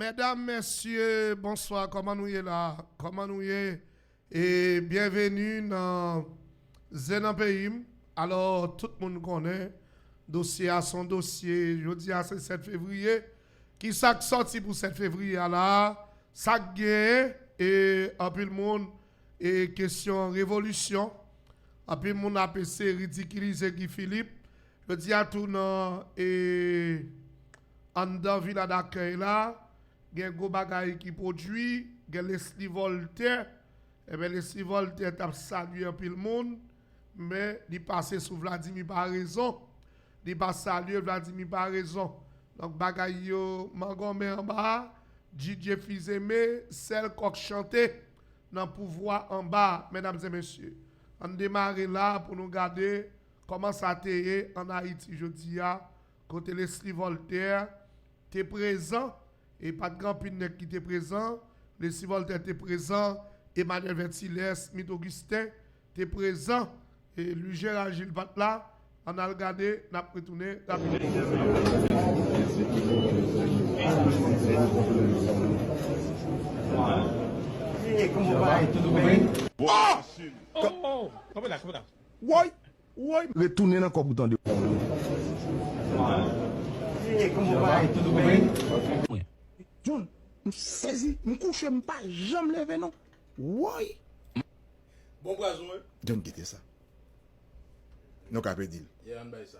Medam mesye bonswa koman nou ye la koman nou ye e byenveni nan zen nan peyim alò tout moun konnen dosye a son dosye jodi a se 7 fevriye kisak sòti pou 7 fevriye a la sak gen e anpil moun e kesyon revolisyon anpil moun ap eseye ridikilize Guy Philippe Jodi a tou nan anndan vila dakèy la gen gwo bagay ki pwodui, gen Lesly Voltè, enben Lesly Voltè t ap salye anpil moun men li pase sou Vladimir Paraison, li pa salye Vladimir Paraison. Donk bagay yo mangonmen anba a, Didier Fils-Aimé sèl kòk chante nan pouvwa anba a. Medam e mesye, ann demare la pou nou gade. Kòman sa te ye ann Ayiti jodi a, kote Leslie Voltaire te prezan? E pa t gen anpil nèg ki te prezan. Leslie Voltaire te prezan, Emmanuel Vertilhers, Smith Augustin te prezan. E Louis Gérard Gilles pa t la. Ann al gade, n ap retounen rapidman. Woy! Woy! Retounen nan kòb ou tande. John, m sezi, m kouche m pa janm leve non. Woy! Bon pwazon wi. John kite sa. Nou ka pedi l. Yeah, ann bay sa.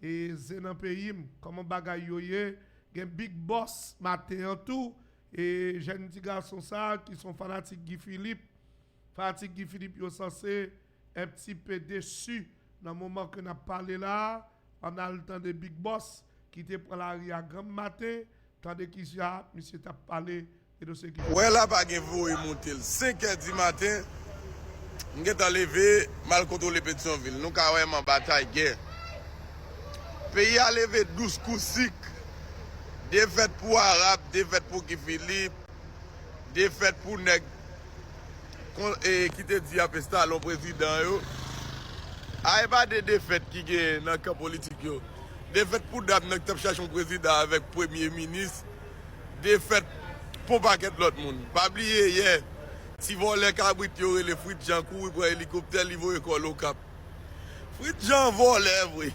Ze nan peyim koman bagay yo ye gen big boss maten an tou e jèn ti gason sa ki son fanatik Guy Philippe fanatik Guy Philippe yo sanse un pti pe desu nan moman ke nap pale la an al tande big boss ki te pran lari a granm maten tande kijan misye tap pale Ou wè la pa gen voye monte l 5 è di maten m gentan leve m al kontwole Petyonvil nou ka wè m anba Tayge peyi a leve dous kou sik defèt pou Arab defèt pou Guy Philippe defèt pou nèg ki te di y ap enstale yon prezidan yo a e pa 2 defèt ki gen nan kan politik yo defèt pou dam nan ki t ap chache yon prezidan avèk premye minis. defèt pou pakèt lòt moun. Pa bliye yè, ti vòlè kabrit yo rele Fritz Jean kouri pran elikoptè li voye kò l Okap. Fritz Jean vòlè vre!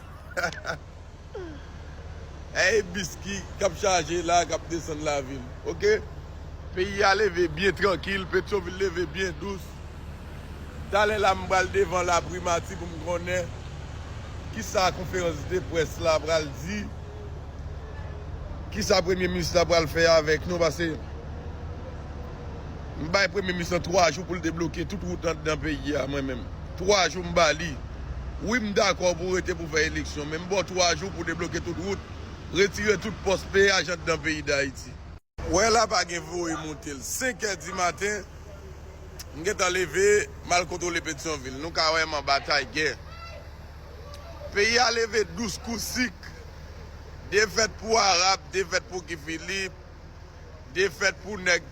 Èy bis ki kap chaje la kap desann lavil ok. Peyi a leve byen trankil, Petyonvil leve byen dous. Talè la m pral devan laprimati pou m konnen kisa konferans de près la pral di. kisa premye minis la pral fè avèk nou pase m bay premye minis lan 3 jou poul debloke tout wout andan peyi a mwen menm 3 jou m bali wi m dakò pou rete pou fè eleksyon men m baw 3 jou pou debloke tout wout retire tout pòs peyaj andan peyi dayiti. Wè la pa gen voye monte l. 5 è di maten, m gentan leve, m al kontwole Petyonvil. Nou ka wè m an batay gè. Peyi a leve dous kou sik. Defèt pou Arab, defèt pou Guy Philippe, defèt pou nèg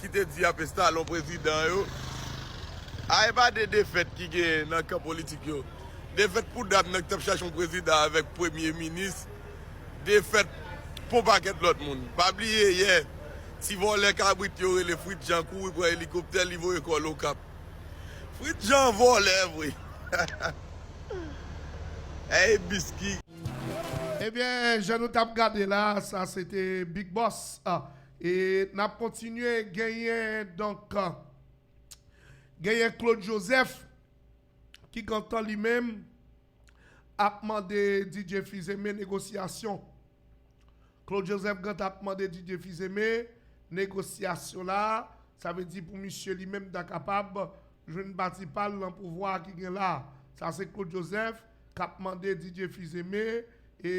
ki te di y ap enstale yon prezidan yo. A e pa de defèt ki genyen nan kan politik yo. Defèt pou dam nan ki t ap chache yon prezidan avèk premye minis. defèt pou yon pakèt lòt moun. Pa bliye yè, ti vòlè kabrit yo rele Fritz Jean kouri pran elikoptè li voye kò l Okap. Fritz Jean vòlè vre! Ey Bisky! Ebyen jan nou tap gade la sa se te Big Boss e nap kontinye genyen donk genyen Claude Joseph ki gentan li menm. ap mande Didier Fils-Aimé negosyasyon. Claude Joseph Grant ap mande Didier Fils-Aimé negosyasyon la, sa vle di pou misye li menm ta kapab jwenn pati pa l nan pouvwa a ki gen la. Sa se Claude Joseph k ap mande Didier Fils-Aimé e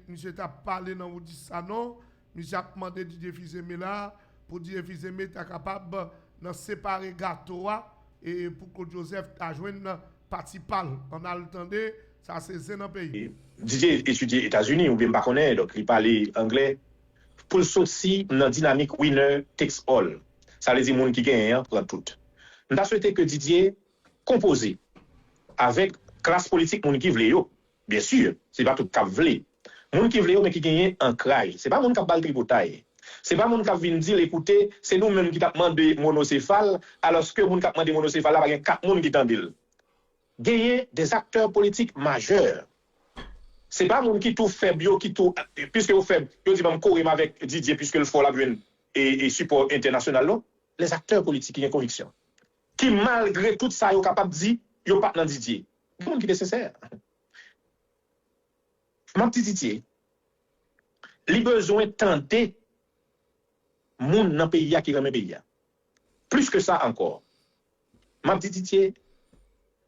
misye t ap pale nan Oudis Sanon Misye ap mande Didier Fils-Aimé la pou Didier Fils-Aimé ta kapab nan separe gato a e pou Claude Joseph ta jwenn pati pa l. Ann al tande, sa se zen nan peyi. Didier etidye Etazini oubyen m pa konnen, donk li pale angle pou l soti nan dinamik winner takes all. Sa vle di moun ki genyen an pran tout. M ta swete ke Didier konpoze avèk klas politik moun ki vle yo. Byen sur, se pa tout kap vle. Moun ki vle yo men ki genyen ankraj. Se pa moun kap bal tripotay. Se pa moun kap vin dil ekoute, se nou menm ki tap mande monosefal, aloske moun kap mande monosefal la pa gen 4 moun ki tandel. Genyen des acteurs politiques majeurs. Se pa moun ki tou fèb yo ki tou, piske yo fèb, yo di banm korem avèk Didier piske l fò lap jwenn e sipò entènasyonal non. Les acteurs politiques ki gen konviksyon. Ki malgre tout sa yo kapab di, yo pat nan Didier. Gen moun ki te sensè. M ap tititye. Li bezwen tande moun nan peyi a ki renmen peyi a. Plis ke sa ankò, m ap tititye,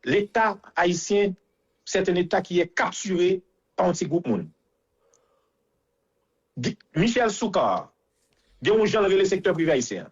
Leta ayisyen sèt yon Leta ki è kaptire pa yon ti gwoup moun. Michel Soukar gen yon jan l rele sektè prive ayisyen an.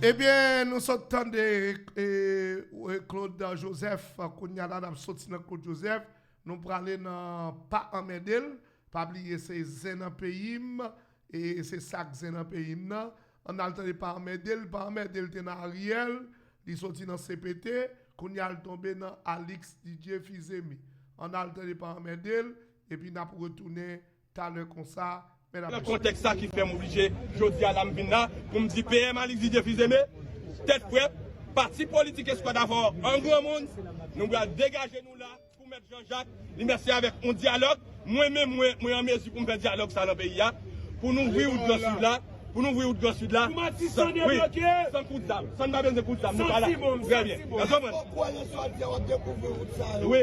Ebyen nou sot tande Claude Joseph kounya la nap soti nan Claude Joseph nou prale nan pa anmèdel pa bliye se zen nan peyim se sak zen nan peyim nan ann al tande pa anmèdel pa anmèdel te nan Ariel li soti nan CPT kounya l tonbe nan Alix Didier Fils-Aimé ann al tande pa anmèdel epi nap retounen Talè konsa, mèd ap esplike. Nan kontèks sa ki fè m oblije jodi a la m vin la pou m di PM Alix Didier Fils-Aimé, tèt frèt, pati politik Eskwad Avò an granmoun, nou pral degaje nou la pou mèt Jan Jak, li mèt se avèk yon dyalòg, mwen menm mwen, mwen an mezi pou m fè dyalòg sa nan peyi a, pou n ouvri wout Gran Sid la, pou n ouvri wout Gran Sid la, san, wi, san kout zam, san n pa bezwen kout zam, nou pa la, trè byen, èske w konprann? Wi.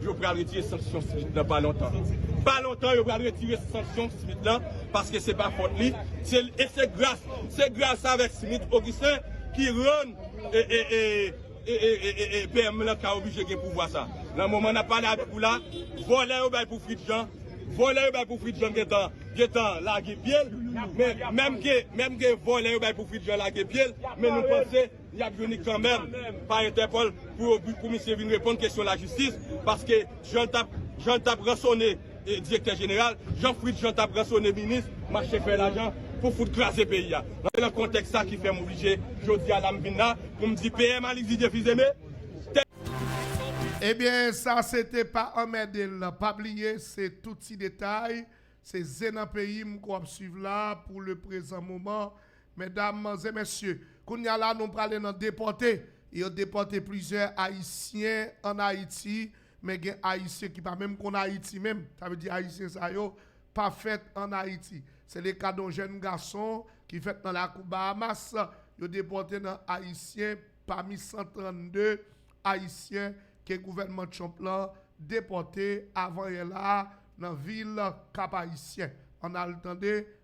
Yo pral retire sanksyon Smith lan pa lontan. Pa lontan yo pral retire sanksyon Smith lan paske se pa fòt li. E se gras se gras avèk Smith Augustin ki rann PM lan ka oblije gen pouvwa sa. Nan moman n ap pale avèk ou la, vòlè yo bay pou Fritjean, vòlè yo bay pou Fritjean gentan gentan lage pye l. Menm ke vòlè yo bay pou Fritjean lage pye l men nou panse. Yap vini kanmenm pa entèpol pou misye vin reponn kesyon la jistis paske jan l tap ransone direktè jeneral jan fritz jean tap ransone minis mache fè lajan pou fout kraze peyi a se nan kontèks sa ki fèm oblije jodia la m vin la pou m di PM Alix Didier Fils-Aimé. Ebyen sa se te pa anmède l pa bliye se tout ti detay se zen nan peyi m ke w ap swiv la pou leprezan moman Medam, manzè, mesye, kounya la nou prale nan depòte. Yo depòte plizyè Ayisyen an Ayiti, men gen Ayisyen ki pa menm konn Ayiti menm. Sa vle di Ayisyen sa yo pa fèt an Ayiti. Se le ka don jèn gason ki fèt nan lakou Bahamas, yo depòte nan Ayisyen pami 132 Ayisyen ke gouvènman Trump lan depòte avan yè la a nan vil Kap-Ayisyen. Ann al tande.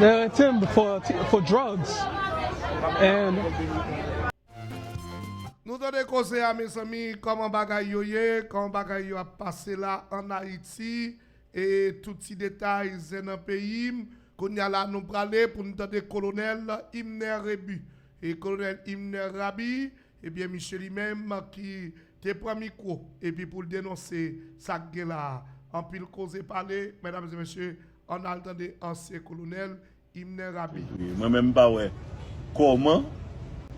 Yo rete m for drugs and. Nou tande koze a mezanmi koman bagay yo ye koman bagay yo ap pase la an Haïti e tout ti detay zen nan peyim kounya la nou prale pou nou tande kolonel Imner Rebu e kolonel Imner Raby ebyen misye li menm ki te pran mikro epi poul denonse sak gen la anpil koze pale medam e mesye Ann al tande ansyen kolonèl Imner Rabi. Mwen menm m pa wè kòman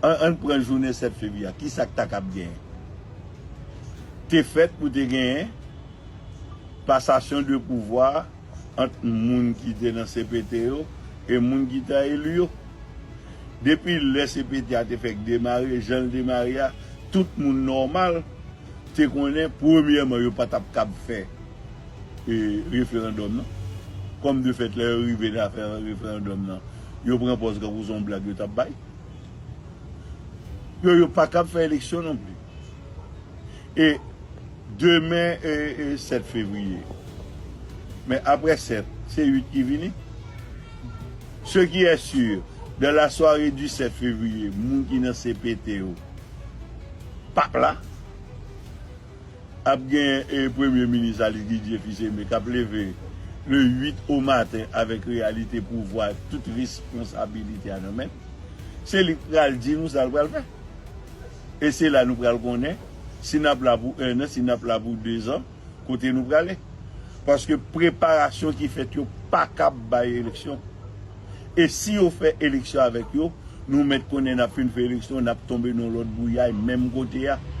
ann pran jounen 7 fevriye a kisa k ta kab gen te fèt pou te genyen pasasyon de pouvwa ant moun ki te nan cpt yo e moun ki ta eli yo. Depi lè cpt a te fèk demare jan l demare a tout moun nòmal te konnen premyèman yo pa t ap kab fè referandòm nan. Kòm de fèt lè yo rive nan afè referandòm nan, yo pran pòz tankou se yon blag yo t ap bay. Yo yo pa kab fè eleksyon non plis. E demen e 7 fevriye. Men aprè 7, se 8 ki vini. Se ki è si, dan la sware di 7 fevriye, moun ki nan CPT yo p ap la. Ap gen Premye Minis Alice Didier Fils-Aimé kap leve le 8 o maten avèk reyalite pouvwa ak tout responsabilite a nan men l. Se li k pral di nou sa l pral fè. E se la nou pral konnen si n ap la pou ennan, si n ap la pou dezan, kote nou prale. Paske preparasyon ki fèt yo pa kab bay eleksyon. E si yo fè eleksyon avèk yo, nou mèt konnen n ap fin fè eleksyon, n ap tonbe nan yon lòt bouyay menm kote a. Gen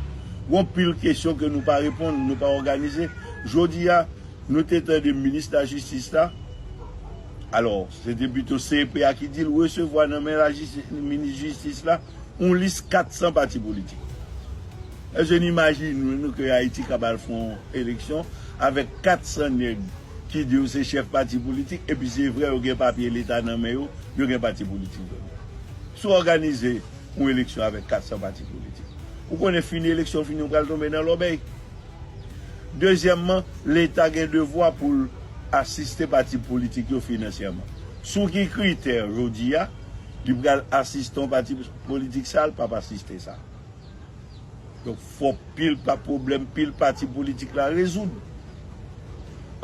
yon pil kesyon ke nou pa reponn, nou pa òganize. Jodi a, nou te tande minis lajistis la, alò, se te pito CEP a ki di l resevwa nan men minis jistis la yon lis 400 pati politik. Èske nou imajine nou ke Ayiti kab al fè yon eleksyon avèk 400 nèg? ki di yo se chèf pati politik epi se vre yo gen papye leta nan men yo, yo gen pati politik vre. Si w òganize yon eleksyon avèk 400 pati politik, ou konnen fini eleksyon fini ou pral tonbe nan lòbèy. Dezyèmman, leta gen devwa pou l asiste pati politik yo finansyèman. Sou ki kritè jodi a li pral asiste yon pati politik sa l p ap asiste sa? Donk fòk pil pa pwoblèm pil pati politik la rezoud.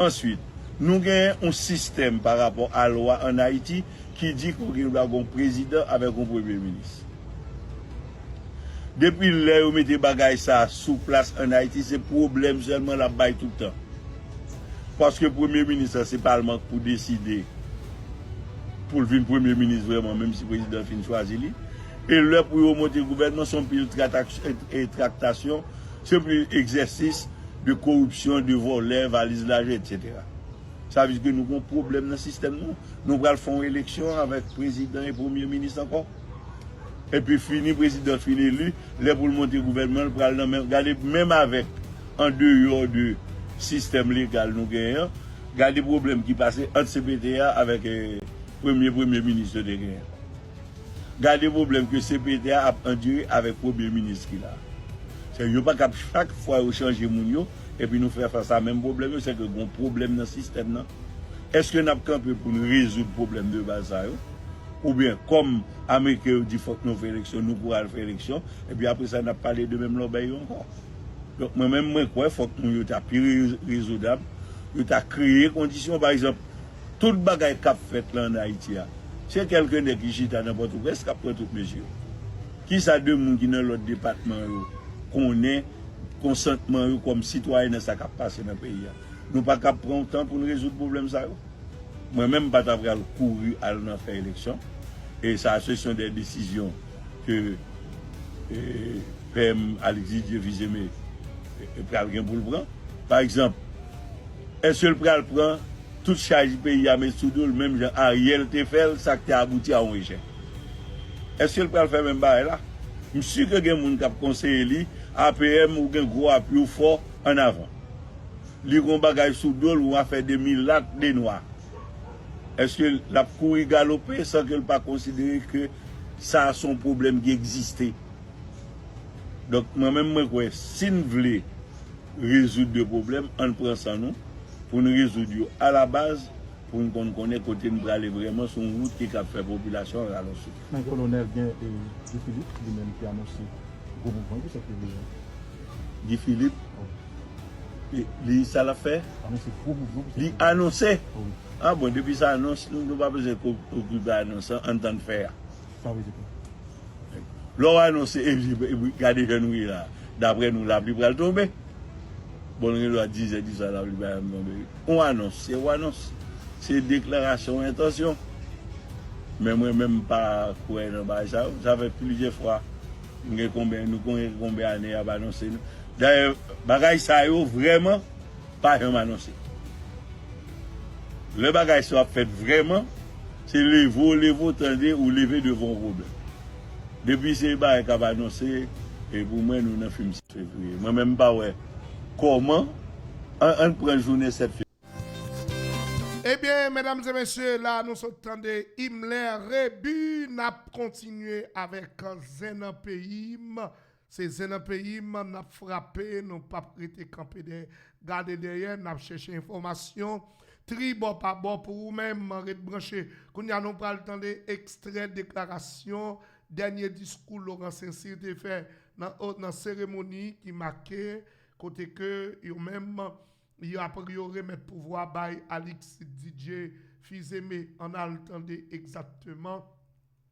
Answit, nou genyen yon sistèm pa rapò a lwa an Ayiti ki di ke gen dwa gen yon prezidan avèk yon premye minis. Depi lè yo mete bagay sa a sou plas an Ayiti se pwoblèm sèlman l ap bay tout tan. Paske premye minis la se palman k pou deside pou l vin premye minis vrèman menm si prezidan fin chwazi li. E lè pou yo monte gouvènman son pil traktasyon, son pil egzèsis de koripsyon, de vòlè, valiz lajan etc. Sa vle di ke nou gen yon pwoblèm nan sistèm nou. Nou pral fè yon eleksyon avèk prezidan e premye minis ankò. Epi fini prezidan fin eli, lè pou l monte gouvènman l pral nan men, gade menm avèk an deyò de sistèm legal nou genyen an, gade pwoblèm ki pase ant cpt a avèk premye premye minis yo te genyen. Gade pwoblèm ke CPT a ap andire avèk premye minis ki la. Se yo pa kab chak fwa yo chanje moun yo epi nou fè fas a menm pwoblèm yo se ke gon pwoblèm nan sistèm nan. Eske nap kanpe pou nou rezoud pwoblèm de baz sa yo? Oubyen kòm ameriken yo di fòk nou fè eleksyon nou pou al fè eleksyon epi apre sa nap pale de menm lòbèy yo ankò? Donk mwen menm mwen kwè fòk moun yo ta pi rezoudab, yo ta kreye kondisyon pa egzanp Tout bagay kap fèt lan an Ayiti a, se kèlke nèg ki chita nan Pòtoprens kap pran tout mezi yo. Kisa 2 moun ki nan lòt depatman yo konnen konsantman yo kòm sitwayen nan sa kap pase nan peyi a? Nou pa kab pran yon tan pou n rezoud pwoblèm sa yo? Mwen menm m pa ta pral kouri al nan fè eleksyon e sa a se son dè desizyon ke PM Alix Didier Fils-Aimé pral gen pou l pran. Pa egzanp. Eske l pral pran tout chaj peyi a met sou do l menm jan Ariel te fè l sa k te abouti a yon echèk? Eske l pral fè menm bagay la? M si ke gen moun k ap konseye li, APM ou gen gwo apui ou fò, an avan. Li gen yon bagay sou do l yon afè de milat, de nwa. Eske l ap kouri galope san ke l pa konsidere ke sa a se yon pwoblèm ki egziste? Donk mwen menm mwen kwè si n vle rezoud 2 pwoblèm ann pran san nou pou n rezoud yo a la baz pou n konn konnen kote n prale vrèman sou yon wout ki kab fè popilasyon an ralon souf. Men Kolonèl gen e Guy Philippe li menm ki anonse gwo mouvman pou 7 fevriye an. Guy Philippe e li sa l ap fè? Anonse gwo mouvman pou 7 fevriye. Li anonse? Wi. A bon depi sa anons nou pa bezwen okipe anons an ann tann fè a. San rezèv. Lè w anonse epi gade jan nou ye la a, daprè nou lapli pral tonbe. Bon l gen dwa dizè diswa lapli pa janm tonbe wi. Yon anons se yon anons. Se deklarasyon entansyon. Men mwen menm m pa kwè nan bagay sa yo. Sa fè plizyè fwa m gen konben nou konyen konben ane y ap anonse nou. Dayè bagay sa yo vrèman pa janm anonse. Lè bagay sa yo ap fèt vrèman. Se leve w leve w tande ou leve devan yon pwoblèm. Depi se bagay k ap anonse e pou mwen nou nan fim 7 fevriye. Mwen menm m pa wè kòman an an pran jounen 7 fevriye. Ebyen medam e mesye la nou sot tande Imler Rebu nap kontinye avèk zen nan peyim. Se zen nan peyim nap frape nou pap rete kanpe dèyè gade dèyè nap chèche enfòmasyon tri bò pa bò pou ou menm ret branche kounya nou pral tande ekstrè deklarasyon dènye diskou Laurent Saincyr te fè nan seremoni ki make kote ke yo menm yo remèt pouvwa bay Alix DJ Fils-Aimé ann al tande egzatteman.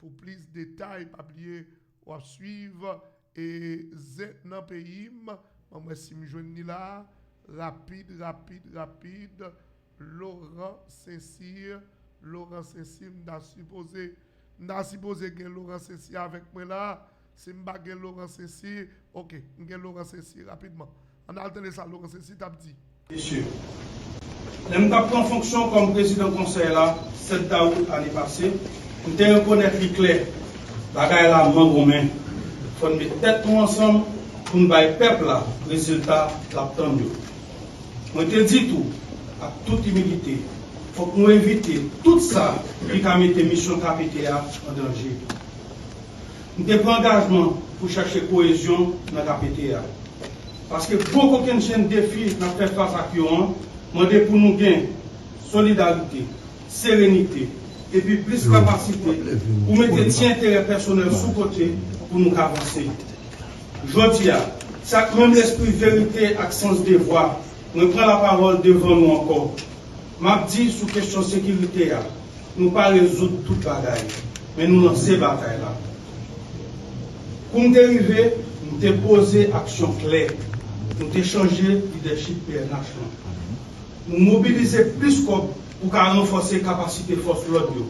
Pou plis detay pa bliye wap swiv e zen nan peyim banm wè sim jwenn li la rapid rapid rapid Laurent saint cyr Laurent saint cyr m ta sipoze m ta sipoze gen Laurent saint cyr avèk mwen la. Si m pa gen Laurent Cesir, ok, m gen Laurent Cesir rapidman. Ann al tande sa Laurent Cesir t ap di. Mesye, lè m t ap pran fonksyon kòm prezidan konsèy la 7 dawout ane pase, m te rekonèt li klè, bagay la mangonmen. Fò n met tèt nou ansanm pou n bay pèp la rezilta l ap tann yo. Mwen te di tou, ak tout imilite, fòk nou evite tout sa ki ka mete misyon KPT a an danje. M te pran angajman pou chèche koyezyon nan KPT a. Paske gwo kokennchenn defi n ap fè fas ak yo an mande pou nou gen, Solidarite, serenite, epi plis kapasite pou mete ti enterè pèsonèl sou kote pou nou ka vanse. Jodi a, se ak menm lespri verite ak sans devwa mwen pran lapawòl devan nou ankò. M ap di sou kesyon sekirite a, nou pa rezoud tout bagay. Men nou lanse batay la. Kou m te rive, m te poze aksyon klè. Nou te chanje lidèchip pnh lan. Nou mobilize plis kòb pou ka ranfòse kapasite fòs lòd yo.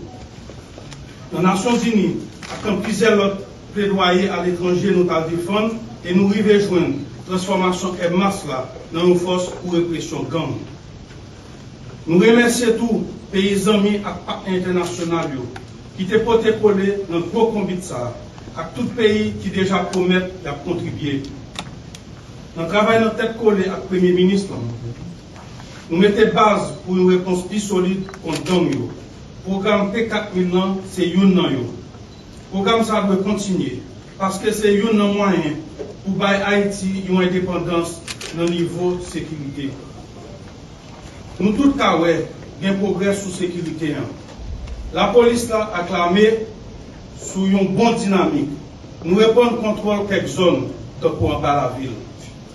Nan Nasyonzini ak nan plizyè lòt pledwaye aletranje nou t al defann e nou rive jwenn transfòmasyon Air Max la nan yon fòs pou represyon gang. Nou remèsye tou peyi zanmi ak patnè entènasyonal yo ki te pote kole nan gwo konbit sa a ak tout peyi ki deja pwomèt y ap kontribye nan travay nan tèt kole ak Premye Minis lan. Nou mete baz pou yon repons pi solid kont gang yo. Pwogram P-4000 lan se youn nan yo. Pwogram sa a dwe kontinye paske se youn nan mwayen pou bay Ayiti yon endepandans nan nivo sekirite. Nou tout ka wè gen pwogrè sou sekirite an. Lapolis la ak lame sou yon bon dinamik. Nou reprann kontwòl kèk zòn, tankou anba lavil.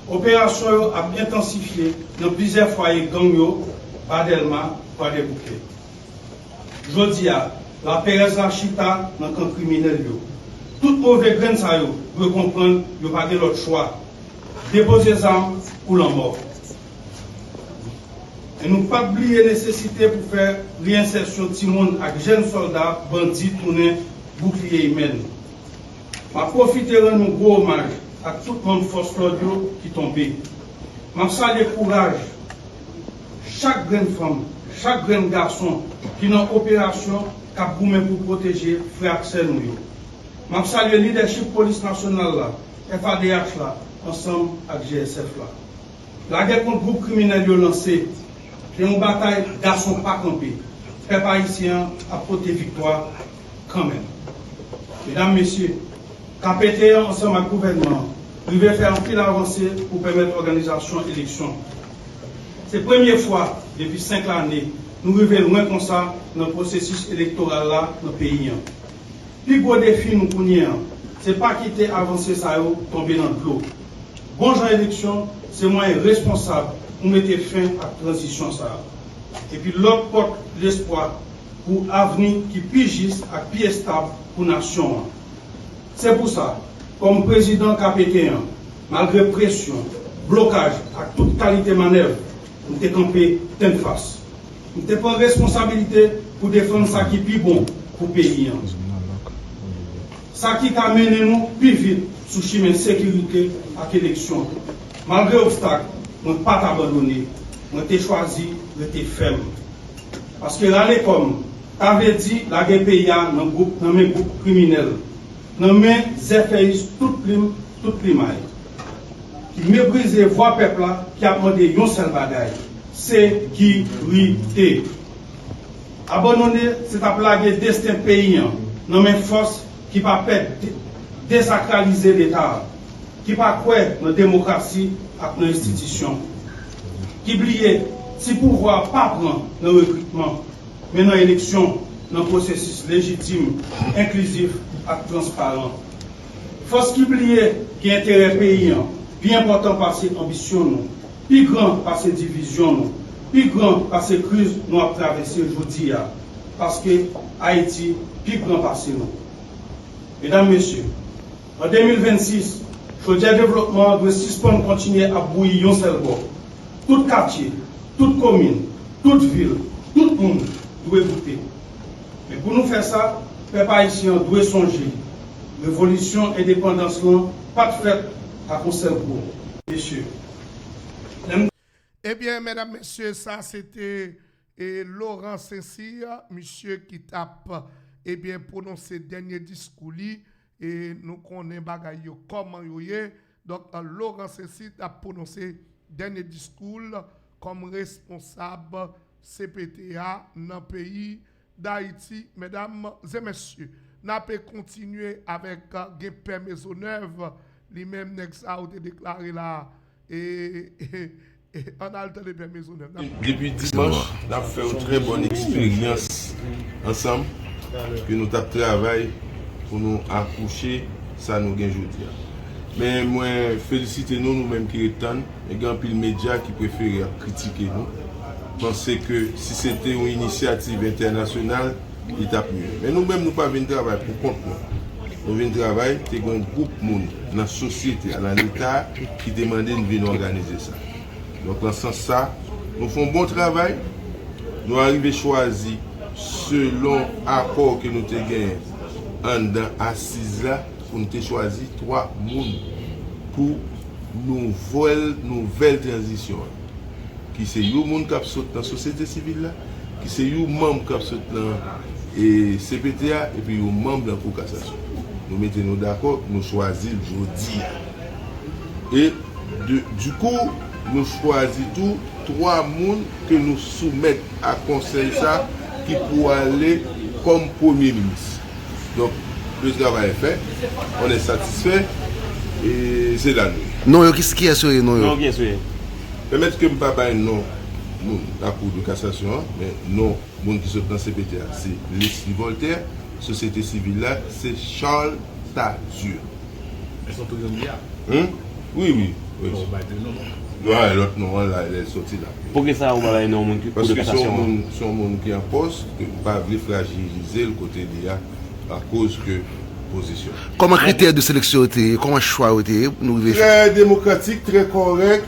Operasyon yo ap entansifye nan plizyè fwaye gang yo, Ba Dèlma, Kwadèboukè. Jodi a, laperèz la chita nan kan kriminèl yo. Tout move grenn sa yo dwe konprann yo pa gen lòt chwa. Depoze zam ou lanmò. E nou pap bliye nesesite pou fè reyensèsyon timoun ak jèn sòlda bandi tounen boukliye imen nou. M ap pwofite rann yon gwo omaj ak tout manm fòs lòd yo ki tonbe. M ap salye kouraj chak grenn fanm, chak grenn gason ki nan operasyon k ap goumen pou pwoteje frè ak sè nou yo. M ap salye lidèchip Polis Nasyonal la, FADH la ansanm ak GSF la. Lagè kont gwoup kriminèl yo lanse, gen yon batay gason pa kanpe, pèp ayisyen an ap pote viktwa kanmenm. Medam, mesye, kpt an ansanm ak gouvènman an rive fè anpil avanse pou pèmèt òganizasyon eleksyon. Se premye fwa depi 5 lane nou rive lwen konsa nan pwosesis elektoral la nan peyi an. Pi gwo defi nou kounye an, se pa kite avanse sa yo tonbe nan dlo. Bon jan eleksyon se mwayen responsab pou mete fen ak tranzisyon sa a. Epi lòt pòt lespwa pou avni ki pi jis ak pi estab pou nasyon an. Se pou sa, kòm prezidan KPT an, malgre presyon, blokaj ak tout kalite manèv, M te kanpe tennfas. M te pran responsabilite pou defann sa ki pi bon pou peyi an. Sa ki ka mennen nou pi vit sou chimen sekirite ak eleksyon. Malgre obstak, mwen pa t abandone. Mwen te chwazi rete fèm. Paske rale kò m ta vle di lage peyi a nan men gwoup kriminèl, nan men zèfèyis tout plim tout plimay. ki meprize vwa pèp la ki ap mande yon sèl bagay, sekirite. Abonnone se tap lage desten peyi an nan men fòs ki pa pè desakralize leta a, ki pa kwè nan demokrasi ak nan enstitisyon, ki bliye si pouvwa a pa pran nan rekritman, men nan eleksyon nan pwosesis lejitim, enklizif ak transparan. Fòs ki pliye gen enterè peyi an pi enpòtan pase anbisyon nou, pi gran pase divizyon nou, pi gran pase kriz nou ap travèse jodi a, paske Ayiti pi gran pase nou. Medam, Mesye, an 2026, chodyè devlopman an dwe sispann kontinye ap bouyi yon sèl bò. Tout katye, tout komin, tout vil, tout moun dwe goute. Men pou nou fè sa, pèp ayisyen an dwe sonje, Revolisyon endepandans lan pat fèt ak on sèl kou mesye. Lè m. Ebyen medam mesye sa se te Laurent Saint-Cyr misye ki tap ebyen pwononse dènye diskou li e nou konnen bagay yo kòman yo ye. Dòk Laurent Cécile tap pwononse dènye diskou l kòm responsab cpt a nan peyi Dayiti. Medam e mesye, n ape kontinye avèk gen pè Mezonèv, li menm nèg sa yo te deklare la e Ann al tande pè mezonèt la. Depi dimanch nap fè yon trè bòn eksperyans ansanm ke nou tap travay pou nou akouche sa nou gen jodi a. Men mwen felisite nou nou menm ki ret tann men gen anpil medya ki prefere ap kritike nou panse ke si se te yon inisyativ entènasyonal Li t ap mye. Men nou menm nou pa vin travay pou kont nou. Nou vin travay, te gen yon gwoup moun nan sosyete a, nan Leta a ki te mande n vin òganize sa. Donk nan sans sa, nou fè yon bon travay, nou arive chwazi selon akò ke nou te genyen anndan asiz la pou n te chwazi 3 moun pou nouvèl nouvèl tranzisyon an. ki se you moun kap sot nan sosyete sivil la, ki se you manm kap sot nan cpt a epi you manm nan kou kasasyon. Nou mete nou dakò, nou chwazi l jodi a. E du kou, nou chwazi tou 3 moun ke nou soumèt a konsèy sa ki pou ale kòm premye minis. Donk, le travay est fait, on est satisfait, e se la nou ye. Non yo, kiyès yo ye non yo? Non kiyès yo ye? Pèmèt ke m pa bay non moun lakou de kasasyon an, men non moun ki sot nan cpt a se Lesly Voltaire, sosyete sivil la se Charles Tardieu. Elles sont toujours Mia. Hum? Wi wi. Fò ou bay 2 non moun. Wi, lòt non an la lèl sòti lap peye. Poukisa ou pa bay non moun ki kou de kasasyon an? Paske se yon moun ki an pòs ke ou pa vle frajilize'l kote li a akoz ke pozisyon. Kòman kritè de seleksyon yo te ye? Kòman chwa yo te ye pou nou rive jwenn. Trè demokratik, trè kòrèk.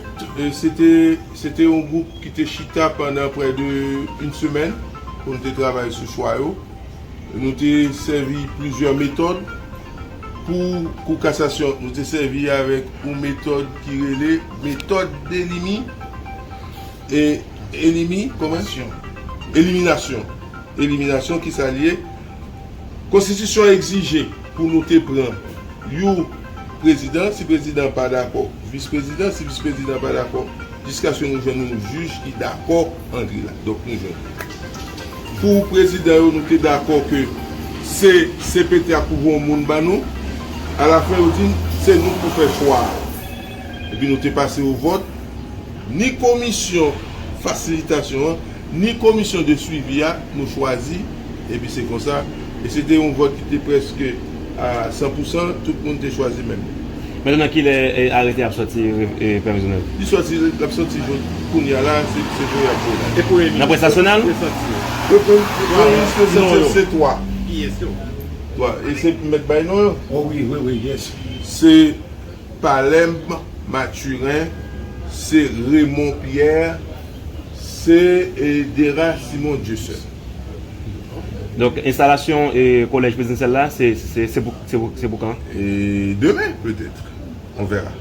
Se te se te yon gwoup ki te chita pandan prè de yn semèn pou nou te travay sou chwa yo. Nou te sèvi plizyè metòd. Pou Kou Kasasyon, nou te sèvi avèk yon metòd ki rele metòd delimi, e, elimi, kòman? Nasyon. Eliminasyon. Eliminasyon ki sa l ye? Konstitisyon egzije pou nou te pran yon prezidan, si prezidan an pa dakò, visprezidan, si visprezidan an pa dakò, jiskaske nou jwenn yon jij ki dakò. Andre la. Donk nou jwenn li. Pou prezidan yo nou te dakò ke se cpt a k pou voyon moun ban nou. A la fen yo di n se nou k pou fè chwa a. Epi nou te pase o vòt. Ni komisyon fasilitasyon an, ni komisyon de swivi a nou chwazi. Epi se konsa. E se te yon vòt ki te prèske. A san pou san, tout moun te chwazi menm. Mèt nan kilè arete ap sòti previzyonèl. Li sòti lap sòti jodi kounya la se jodi yap voye la. Epo Nan près nasyonal? Previzyonèl yo non yo. Se 3. Kiyès yo? 3 e se pou mèt bay non yo. O wi wi wi yes. Se Palembe Mathurin, se Raymond Pierre, se Dera Simon Dieuseul. Donk enstalasyon kolèj prezidansyèl la se pou kan? Demen petèt, on vèra.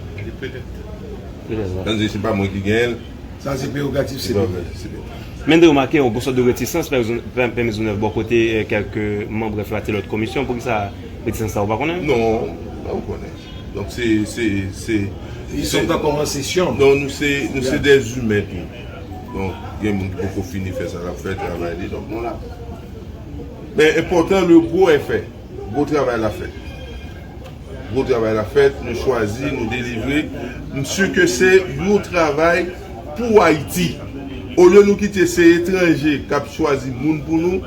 Se pa mwen ki genyen l. Sa se prerogatif CPT. Men de remake yon sòt de retisans Pè Mezonèv bò kote kèlk manm brèf la te lòt komisyon. Pou ki sa retisans sa ou pa konnen? Non, mwen konnen. Donk se. Li sot ankò nan sesyon. Non, nou se de imen tou. Donk gen moun ki poko fini fè sa lap fè travay li donk nou la. Men enpòtan le gwo è fè. Gwo travay la fèt. Gwo travay la fèt, nou chwazi, nou delivre. M si ke se yon travay pou Ayiti. Olye nou kite se etranje kap chwazi moun pou nou,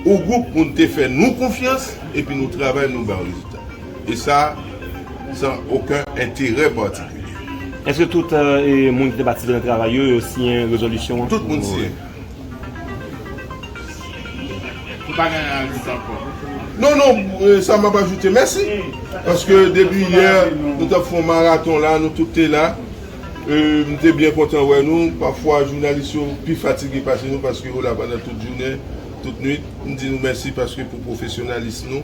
yon gwoup moun te fè nou konfyans epi nou travay nou ba yo rezilta. E sa, san oken enterè patikilye. Èske tout moun ki te patisipe nan travay yo, yo siyen rezolisyon an? Tout moun siyen. Ou pa gen anyen ajoute ankò? Non, non, sa m ap ajoute. Mèsi. Paske depi yè, nou t ap fè yon maraton la, nou tout te la. M te byen kontan wè nou. Pafwa jounalis yo pi fatige pase nou paske yo la pandan tout jounen, tout nuit. M di nou mèsi paske pou pwofesyonalism nou.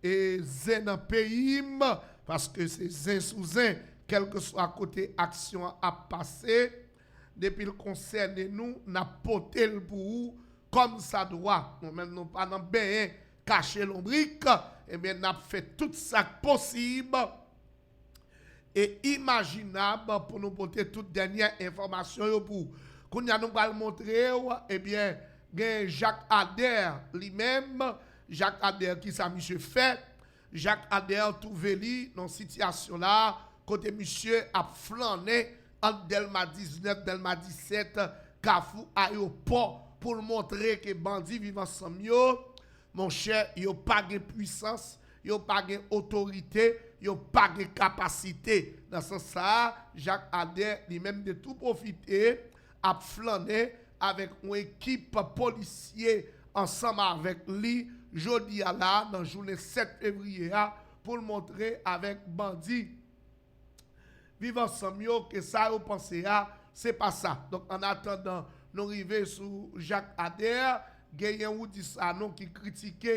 E zen nan peyim paske se zen sou zen kelkeswa kote aksyon an ap pase depil konsène nou nap potel pou ou kòm sa dwa nou menm nou pa nan benyen kache lonbrik ebyen nap fè tout sak posib E imajinab pou nou pote tout dènyè enfòmasyon yo pou ou. Kounye a nou pral montre ou, ebyen, gen Jacques Ader li menm. Jacques Ader, ki sa misye fè? Jacques Ader twouve li nan sitiyasyon la a, kote misye ap flannen ant Dèlma 19, Dèlma 17, Kafou, Ayopò, pou l montre ke bandi Viv Ansanm yo, monchè, yo pa gen pwisans, Yo pa gen otorite, yo pa gen kapasite. Nan sans sa a, Jacques Ader li menm te tou pwofite ap flannen avèk yon ekip polisye ansanm avèk li jodi a la a nan jounen 7 fevriye a pou l montre avèk bandi Viv Ansanm yo ke sa yo panse a se pa sa. Donk an atandan nou rive sou Jacques Ader, genyen Roudy Sanon ki kritike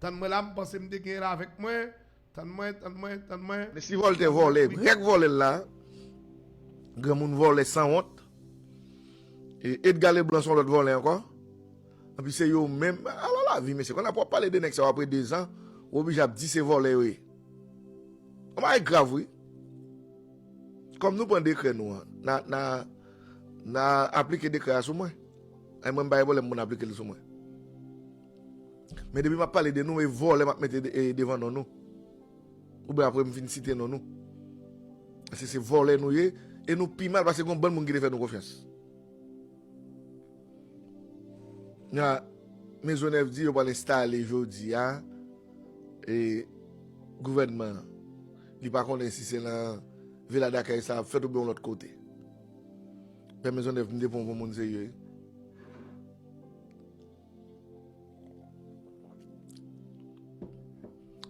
Tann mwen la m panse m te genyen l avèk mwen Tann mwen, tann mwen, tann mwen. Mesi voltè vòlè grèk vòlè l la granmoun vòlè sanwont e edga leblan son lòt vòlè ankò anpi se yo menm ala lavi mesye konn apre wap pale de nèg sa yo apre 2 zan ou oblije ap di se vòlè yo ye yon bagay grav wi kòm nou pran dekrè nou an na na aplike dekrè a sou mwen. Ay mwen m pa evolem moun aplikel sou mwen men depi map pale de nou e vole map mete devan non nou oubyen aprem fin site non nou paske se vole nou ye e nou pi mal paske gon bann moun ki te fè nou konfyans na mezonèv di yo pwal enstale jodia e gouvènman li pa konnen si se nan vila dakèy sa ap fèt oubyen yon lot kote. Pè Maisonneuve mde pran w pou moun serye wi.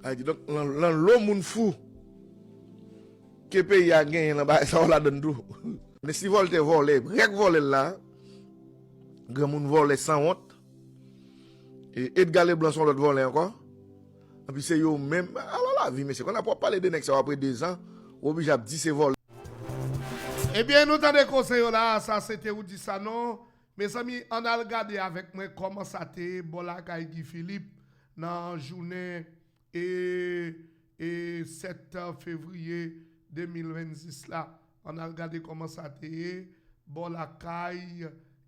Ay kidonk lan lo moun fou ke peyi a genyen lan bagay sa yo ladann tou. Men si Voltè vòlè, rèk vòlè l la, granmoun vòlè sanwont, e Edga Leblan son lòt vòlè ankò. Epi se yo menm, ala lavi mesye, konn apre wap pale de nèg sa yo apre 2 zan, ou oblije ap di se vòlè. Ebyen nou tande koze yo la a sa sete ou di sa non mezanmi ann al gade avèk mwen kòman sa te ye bò lakay Guy Philippe nan jounen e e 7 fevriye 2026 la Ann al gade kòman sa te ye bò lakay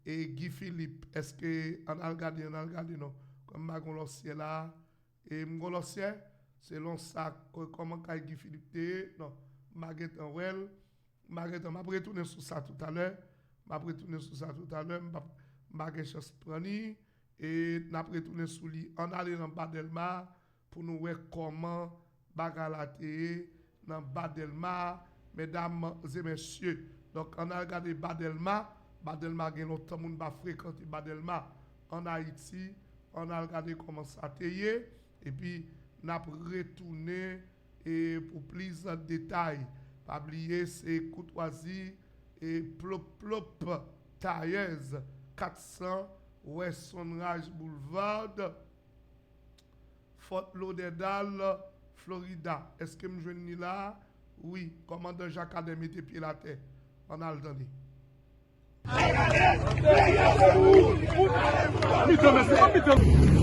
e Guy Philippe èske ann al gade ann al gade non kòm m pa gon lòsyè la a e m gon lòsyè selon sa kòman kay Guy Philippe te ye non m pa gen tan wè l m pa gen tan m ap retounen sou sa toutalè m ap retounen sou sa toutalè m pap m pa gen chans pran li e n ap retounen sou li ann ale nan ba Dèlma Pou nou wè kòman bagay la te ye nan ba dèlma medam ze mesye donk an al gade ba dèlma ba dèlma gen lontan moun pa frekante ba dèlma an ayiti an al gade kòman sa te ye epi nap retounen pou plis detay pa bliye se koutwazi e plop plop tayèz 400 wè sonraj boulevard. Fort Lauderdale, Florida Eske m jwenn li la a? Wi Kòmandan Jakadè mete pye l atè An n al tande. Jakadè, peyi a se pou ou Ou ta ale pou kòl Mitan mesye An mitan mesye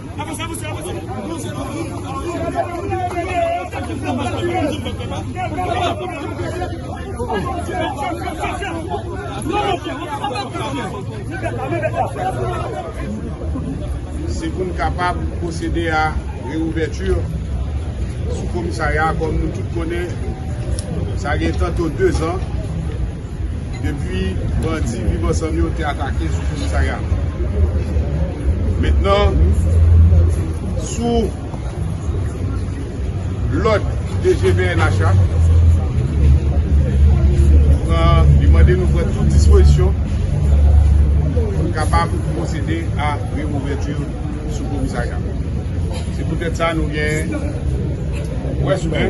Se pou n kapab pwosede a reouvèti sou komisarya a kòm nou tout konnen sa gen tanto 2 zan. depi bandi viv ansanm yo te atake sou komisarya mentnan sou lòd DG pnh la li pran li mande nou pran tout dispozisyon pou n kapab pwosede a reouvèti sou komisarya se poutèt sa nou gen pwès men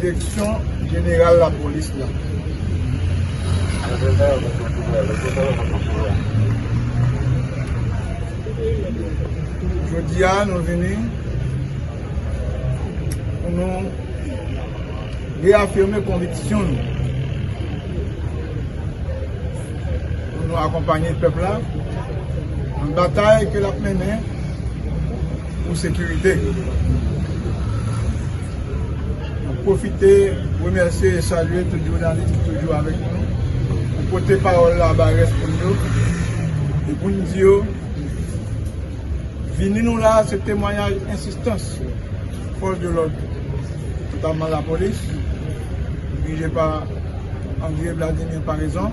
Direksyon jeneral lapolis la Jodi a nou vini pou nou reafime konviksyon nou pou nou akonpanye pèp la nan batay ke l ap mennen pou sekirite. Mwen pwofite remèsye e salye tout jounalis ki toujou avèk nou pou pote pawòl la bay rès moun yo e pou nou di yo vini nou la se temwanyaj ensistans fòs de lòd notamman lapolis dirije pa André Vladimir Paraison.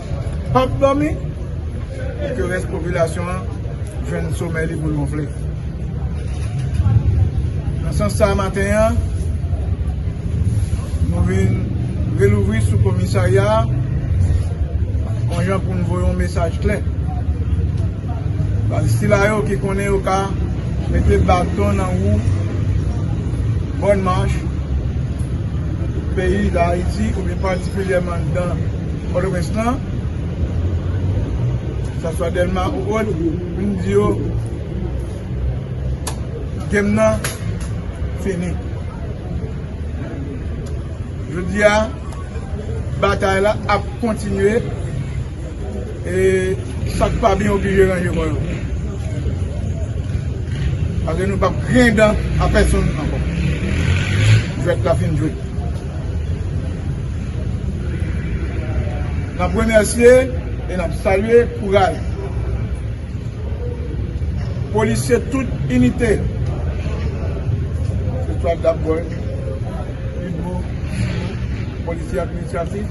Pap dòmi pou ke rès popilasyon an jwenn somèy li pou l wonfle. Nan sans sa a maten an, nou vin relouvri sou komisarya a yon jan pou nou voye yon mesaj klè. Baz sila yo ki konnen yo ka mete baton nan wou Bonne Marche, peyi Dayiti oubyen patikilyèman dan. Pòtoprens lan, sa swa Dèlma ou ot, vin di yo, gèm nan fini. Jodi a, batay la ap kontinye, e sak pa byen oblije ranje kò yo. Pase nou pap griyen dan a pèsonn ankò. Jwèt la fin jwe. N ap remèsye e n ap salye kouraj polisye tout inite Etwal Dabgòl, Pibgo, Polisye Administratif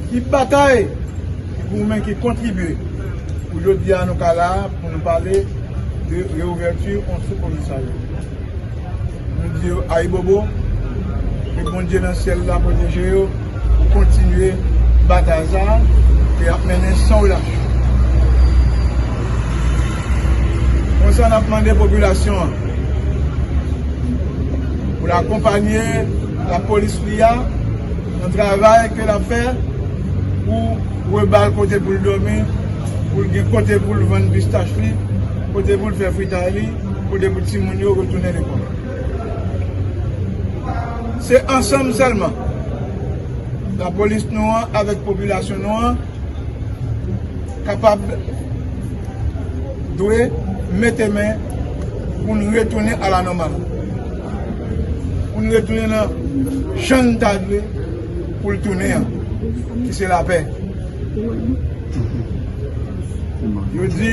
ki batay, ki goumen, ki kontribye pou jodi a nou ka la a pou nou pale de reouvèti yon sou komisarya. Nou di yo ayibobo, ke Bondye nan syèl la pwoteje yo pou kontinye batay sa a ke y ap mennen san relach. Konsa n ap mande popilasyon an pou l akonpanye lapolis li a nan travay ke l ap fè pou reba l kote pou l dòmi, pou l gen kote pou l vann pistach li, kote pou l fè fritay li. Kote pou timoun yo retounen lekòl? Se ansanm sèlman lapolis nou an avèk popilasyon nou an kapab, dwe mete men pou n retounen a la nòmal. Pou n retounen nan jan n ta dwe pou l tounen an, ki se lapè. Yo di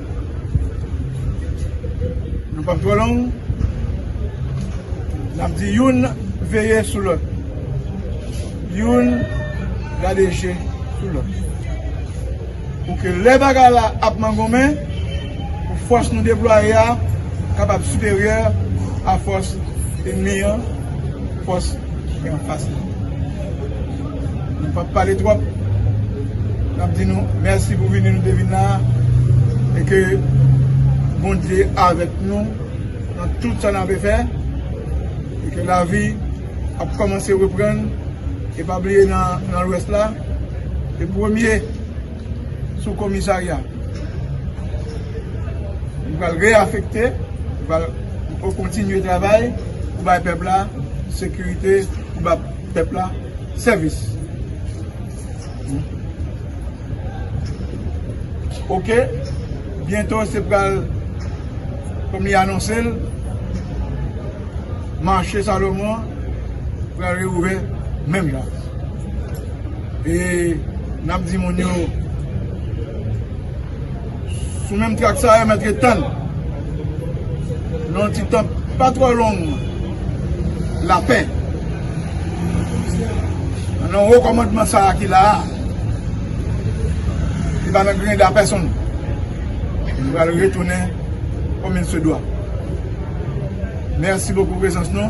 Nou pap twò long, n ap di youn veye sou lòt, youn gade je sou lòt. Pou ke lè bagay la ap mangonmen, pou fòs nou deplwaye a kapab siperyè a fòs enmi an, fòs ki anfas nou. Nou pap pale twòp. Nap di nou mèsi pou vini nou te vin la a e ke Bondye avèk nou nan tout sa n ape fè e ke lavi ap kòmanse reprann e pa bliye nan lwès la te premye sou komisarya nou pral reafekte nou pral kontinye travay pou bay pèp la sekirite pou bab. Pèp la sèvis. Ok byento se pral kòm li anonse l mache Salomon an pral reouvè menm jan e n ap di moun yo. Sou menm track sa yo mèt ret tann nan yon ti tan pa twò long lapè nan wo kòmandman sa ki la a li pa nan grenda pèsonn li pral retounen kòm il se dwa mèsi bokou prezans nou.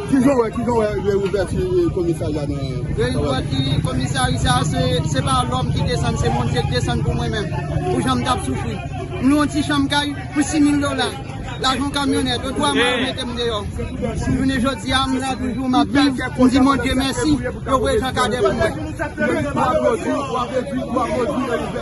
Kijan wè kijan wè reouvèti komisarya nan Reouvèti komisari sa se se pa lòm ki desann se Bondye ki desann pou mwen menm pou jan m tap soufri m lwen yon ti chanm kay pou 6000 dola lajan kamyonèt yo dwa mal mete m deyò jounen jodi a m la toujou m ap viv m di Bondye mèsi yo voye Jan Cadet pou mwen. Lè w aplodi w ap redwi w aplodi reouvèti.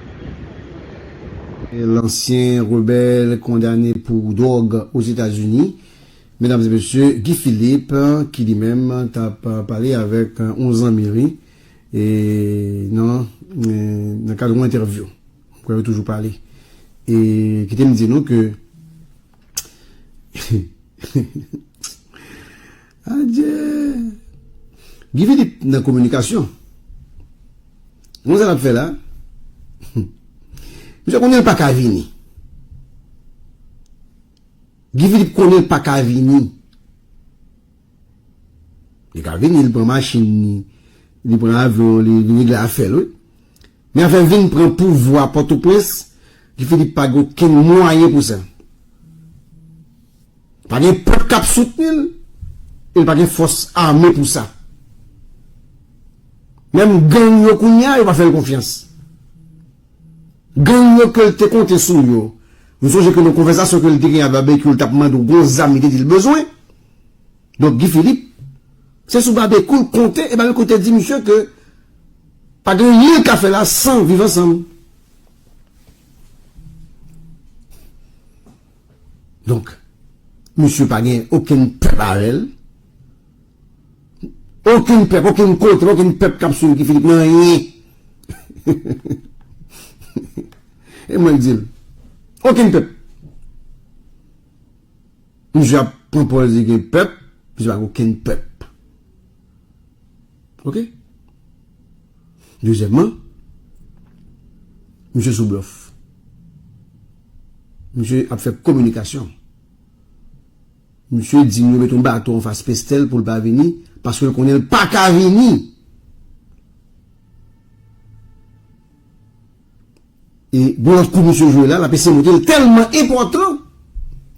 Lansyen rebèl kondane pou dwòg Ozetazini, medam e mesye, Guy Philippe ki li menm tap pale avèk yon zanmi li nan kad yon entèvyou, m kwè yo toujou pale e kite m di nou ke. Adyee! Guy Philippe nan kominikasyon. Gade sa l ap fè la. Misye konnen l pa ka vini. Guy Philippe konnen l pa ka vini. Li ka vini, li pran machin li, li pran avyon li, li regle afè l wi. Men afè vin pran pouvwa Pòtoprens, Guy Philippe pa gen okenn mwayen pou sa. Pa gen pèp k ap soutni l e l pa gen fòs ame pou sa. Menm gang yo kounye a, yo pa fè l konfyans. Gang yo ke l te konte sou yo, nou sonje ke nan konvèsasyon ke l te gen ak Babekyou, l t ap mande w gon zam li te di l bezwen. Donk Guy Philippe, se sou Babekyou l konte e Babekyou te di misye ke, Pa gen anyen yo ka fè la san viv ansanm. Donk, misye pa gen okenn pèp avè l. Okenn pèp, okenn kontre, okenn pèp k ap swiv Guy Philippe nan anyen. E mwen di l, okenn pèp. Misye ap pran pòz li gen pèp, misye pa gen okenn pèp. Ok. Dezyèmman, misye sou blòf. Misye ap fè kominikasyon. Misye di nou yo met yon baton anfas Pestel pou l pa vini paske l konnen l pa ka vini. E gen lòt kou misye jwe la, l ap eseye montre l tèlman enpòtan,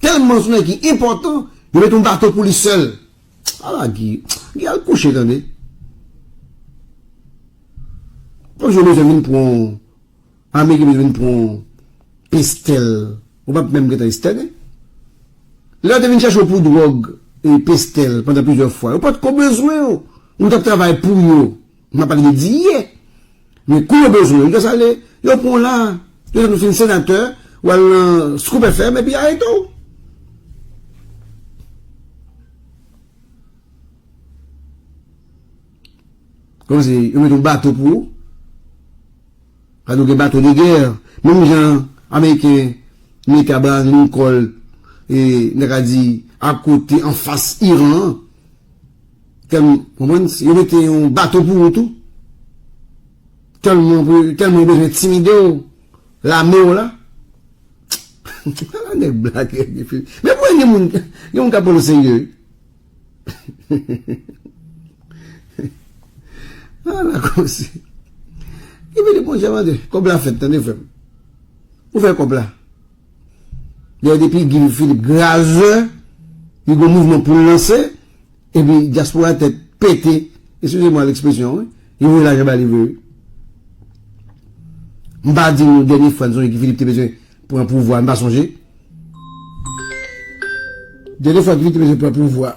tèlman sou nèg ki enpòtan, yo met yon baton pou li sèl. Ala Guy. Guy al kouche tande. Yon jou bezwen vin pran w. Ame ki bezwen vin pran w. Pestel. Ou pap menm gentan Esther e. Lè yo te vin chache w pou dwòg e pestel pandan plizyè fwa. Yo pat ko bezwen w. Ou tap travay pou yo. Mwen pale de diye. Men kou yo bezwen Lucas ale, yo pran w la. Yon lè nou fin senatè, w al nan Scoop FM epi y a arete w. Kòman se yo met yon bato pou ou? Sa nou gen bato de gè. Menm jan Ameriken mete Abraham Lincoln e n ta ka di akote anfas Iran an. Fèm konprann si yo mete yon baton pou ou tou tèlman tèlman yo bezwen entimidew lamew la ala nèg blak men pou gen moun gen moun kap pranl oserye wi ala koze ebyen bon jan mande kob la fèt tande frèm ou fè kob la. Dayè depi Guy Philippe graze, li gon mouvman poul lanse, epi dyaspora tèt pete, eskize mwa lekspresyon wi, li voye lajan ba li vre wi. M pa di nou dènye fwa n sonje Guy Philippe te bezwen pran pouvwa, m pa sonje. Dènye fwa Guy Philippe te bezwen pran pouvwa.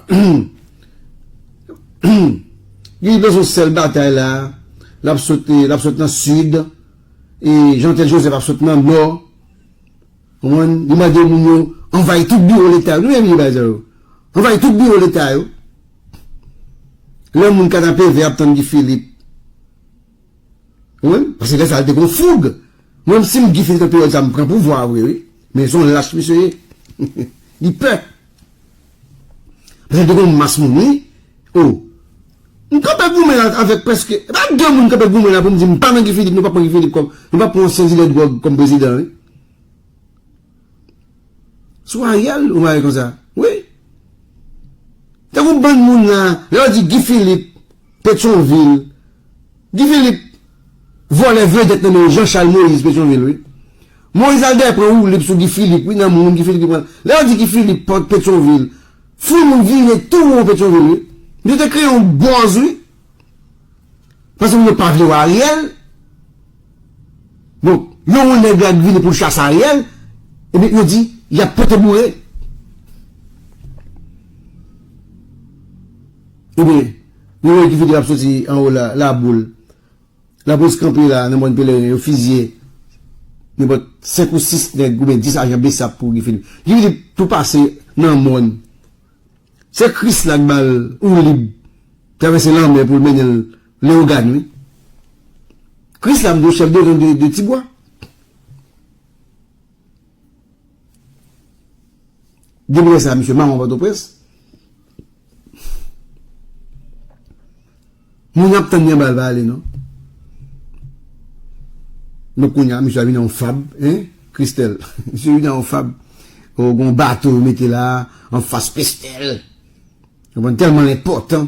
Guy Philippe son sèl batay la, l ap sot nan sid, e Jean Tel Joseph ap sot nan nò. Konprann? Li mande moun yo anvayi tout biwo leta yo. Li menm li bay zan yo. Anvayi tout biwo leta yo. Lè moun Kanapevè ap tann Guy Philippe. Konprann? Paske lè sa li te gon foug. Mwen menm si m Guy Philippe nan peryòd sa m pran pouvwa a vre wi. Men son lach misye ye. Li pè. Paske li te gon mas moun wi. O! M kanpe goumen la avèk prèske, e pa de moun m kanpe goumen la pou m di m pa nan Guy Philippe, nou pa pran Guy Philippe kòm, nou pa pran ansyen dilè dwòg kòm prezidan wi. Sou Ariel ou mare konsa? Wi. Tankou bann moun la, lè yo di Guy Philippe, Petyonvil, Guy Philippe vòlè vedèt nan men Jean Charles Moïse Petyonvil wi. Moïse al dèyè pran woulib sou Guy Philippe wi nan moun Guy Philippe ki pran. Lè yo di Guy Philippe, Petyonvil, Foul moun vire tou won Petyonvil wi. Yo te kreye yon bòz wi. Paske moun yo pa vle wè Ariel. Bon, yon won nèg la k vini pou l chase Ariel, ebyen yo di y ap pote boure. Ebyen, nou wè ki videyo k ap soti anwo la, laboul. Lapolis kanpe la nan Mòn Peleren, yo fizye nenpòt 5 ou 6 nèg oubyen 10 ajan bsap pou Guy Philippe. Guy Philippe tou pase nan mòn. Se Kris la k ba l woulib travèse lanmè pou l mennen l Lewogàn wi. Kris la mdwe chèf de gang de Tibwa. Depi lè sa misye mawon Pòtoprens. Moun ap tann li anba l pa ale non. Donk kounya misye ap vin nan yon fab hein Christelle misye vin nan yon fab oh gon bato yo mete la anfas Christelle telman l enpòtan.